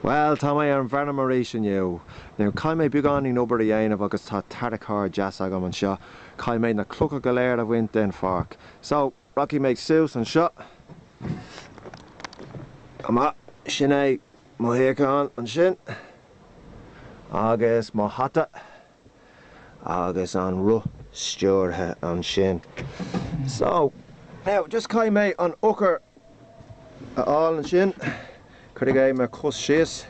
Bhuel, tá mé ar an bhfeirm arís inniu. Now, caithfidh mé beagáinín obair a dhéanamh agus tá tarracóir deas agam anseo. Caithfidh mé na clocha go léir a bhaint den pháirc. So, rachaidh mé suas anseo. Go maith. Sin é mo shuíochán ansin. Agus mo hata. agus an roth stiúrtha ansin. So, now, just caithfidh mé an eochair a fháil ansin, cuirfidh mé mo chos síos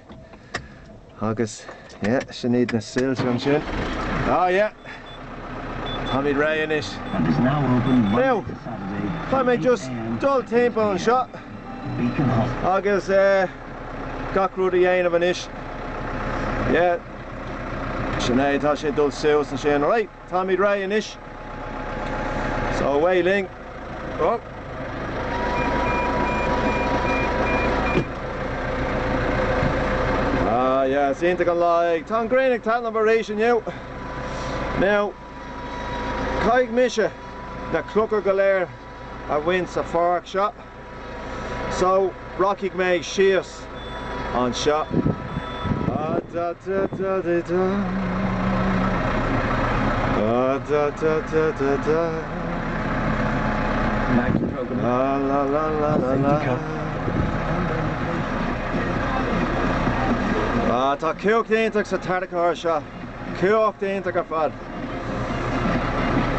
agus, yeah, sin iad na soilse ansin. Ah, yeah. Táimid réidh anois. Now, caithfidh mé just dul timpeall anseo agus, eh, Gach rud a dhéanamh anois. Yeah. Sin é, tá sé ag dul suas ansin. Right, táimid réidh anois. So away linn. Oh. Ah yeah, is iontach an lá é. Tá an ghrian ag taitneamh arís inniu. Now, caithfidh mise na clocha go léir a bhaint sa pháirc seo. So, rachaidh mé síos anseo. Tá cumhacht iontach sa tarracóir seo. Cumhacht iontach ar fad.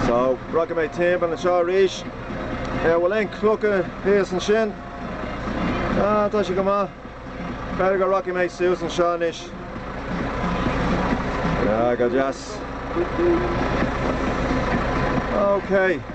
So, rachaidh mé timpeall anseo arís. An bhfuil aon clocha thíos ansin? Ah, tá sé go maith. B'fhéidir go rachaidh mé suas anseo anois. Ah, go deas. Okay.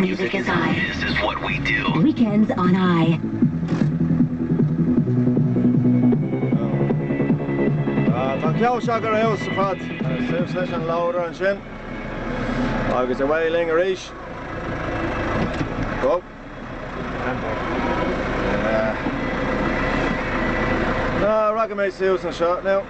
Music is it. This is what we do. Weekends on RTÉ. Tá ceann seo go maith ar fad. Suas leis an loader ansin agus away linn arís. Go? Rachaidh mé suas anseo now.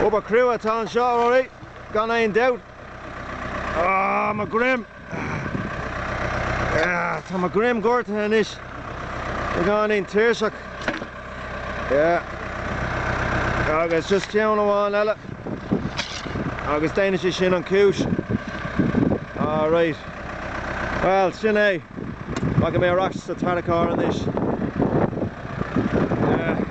Obair cruaidh atá anseo, Rory, gan aon dabht. Ahh, mo ghreim! Ahh, tá mo dhroim gortaithe anois, beagáinín tuirseach. Yeah. Agus just ceann amháin eile, agus déanfaidh sé sin an chúis. Alright. Bhuel, sin é. Fágfaidh mé ar ais sa tarracóir anois é.